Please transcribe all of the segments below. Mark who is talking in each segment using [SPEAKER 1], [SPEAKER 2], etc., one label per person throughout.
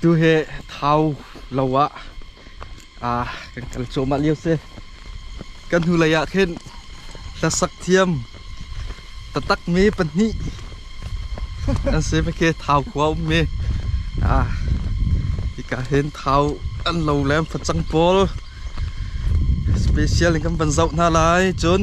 [SPEAKER 1] Tu hi Thau lo ah ah kan kal cuahmah lio si. Kan hnu lei ah khin hlasak thiam tatak me pahnih an se pa ke Thau khua um mi ah hika hin Thau an lo lem facang pawl special in kan van zoh hna lai cun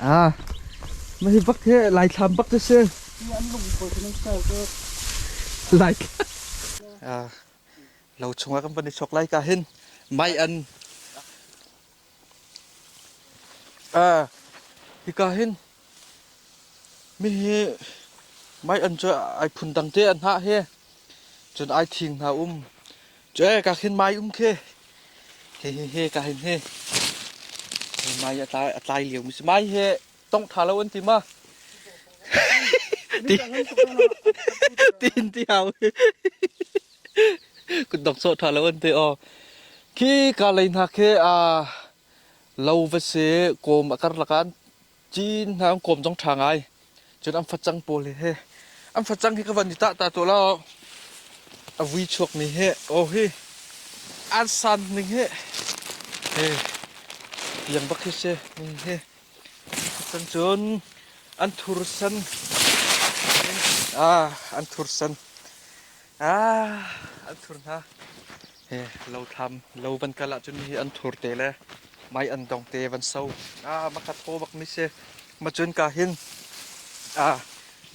[SPEAKER 1] Hi bak hi lai thlam bak hi si. Lai lo chungah kan van i chok lai ka hin mai an hi ka hin mi hi mai an cu ai phun dang te an ha he cun ai thing hna um Cue ka khin mai um khi. He he he ka hin he. Mai a tlai a tlai liu mi si mai he tong tha lo an ti ma. Ti tin ti hau. Kun dong so tha lo an ti o. Khi ka lei na khi a lo va se kom a kar lakan Cin hna an kawm zong ṭha ngai. Cun an facang pawl hi an facang hi ka van i tah ta tu lo a vui chuak mi hi o hi an san ning hi he tiang bak hi se ning hi cun cun an thur san ah an thur san ah an thur hna Lo thlam lo van kal ahcun nihi an thur te le mai an dong te van so. Ah maka thaw bak mi si. Macun ka hin ah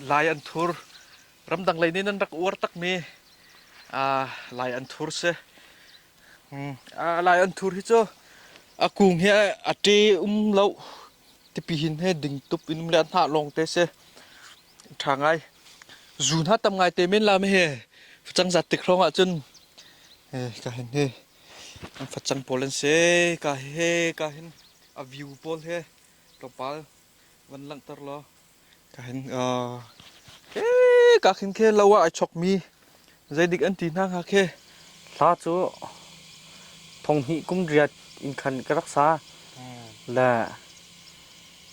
[SPEAKER 1] lai an thur ramdang lei nin an rak uar tak mi ah lai an thur si. Hmm. Ah lai an thur hi cu a kung hi a te um lo tipi hin he ding tup in um le an hna long te si. ṭha ngai. Zu hna tam ngai te men lam hi facang zat tik hrawng ahcun eh ka hin hi an facang pawl an si ka he ka hin a view pawl he tlawmpal van langhter law ka hin eh ka hin khe lo ah ai chawkmi Zeidik an ti hna hnga khi? Hla cu thonghnih kum riat in khan ka rak sa. Hmm. Le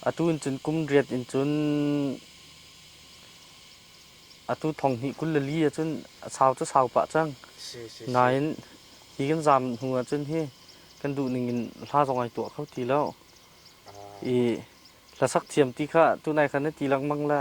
[SPEAKER 1] atu in cun kum riat in cun atu thonghnih kul le li ahcun sau cu sau pah cang. Si, si, Nain hi kan zaam hnu ahcun hi kan duh ning in hla zong ai tuah kho ti lo. Ah. I hlasak thiam ti kha tunai khan na ti lengmang le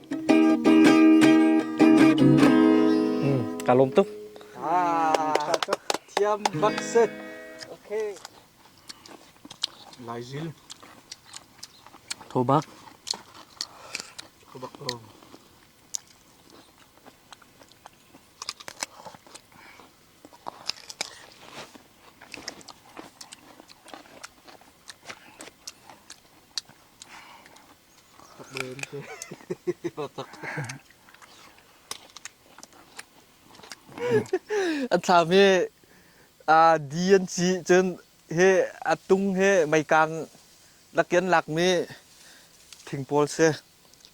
[SPEAKER 1] Ka lawm tuk. Ah, thiam bak set. Okay. Lai Zil. Tho bak. Tho bak lo. An thlam hi di an ci cun hi a tung hi meikang lakin lakmi thing pawl si.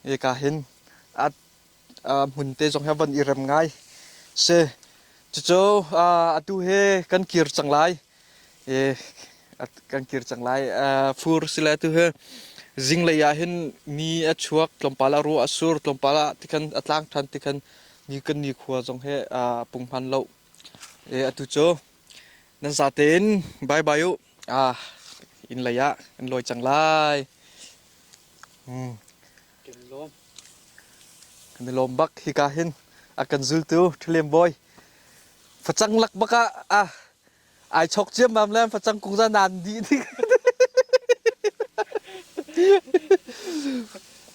[SPEAKER 1] Hika hin a hmun te zong hi a von i rem ngai si. Cucu atu hi kan kir cang lai i kan kir cang lai. Fur sile atu hi zinglei ah hin ni a chuak tlawmpal ah ruah a sur tlawmpal ah tikhan a tlang ṭhan tikhan ni kan nikhua zong hi a pung hman lo. Atu cu nan za tein bye bye u. Inn lei ah in lawi cang lai. Kan i lawm bak hika hin a kan zultu ṭhaliam bawi facang lak bak ah a ai chok ciammam le facang kung za nan di ning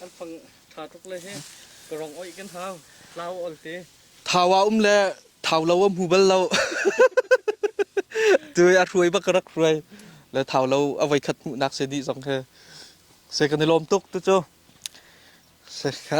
[SPEAKER 1] an fang ṭha tuk le hi ka rong oih kan hau lau ol te thau a um le thau lo a hmu bal lo tu a hruai bak ka rak hruai le thau lo a voi khat hmuhnak se dih zong he se kan i lawm tuk tu cu se kha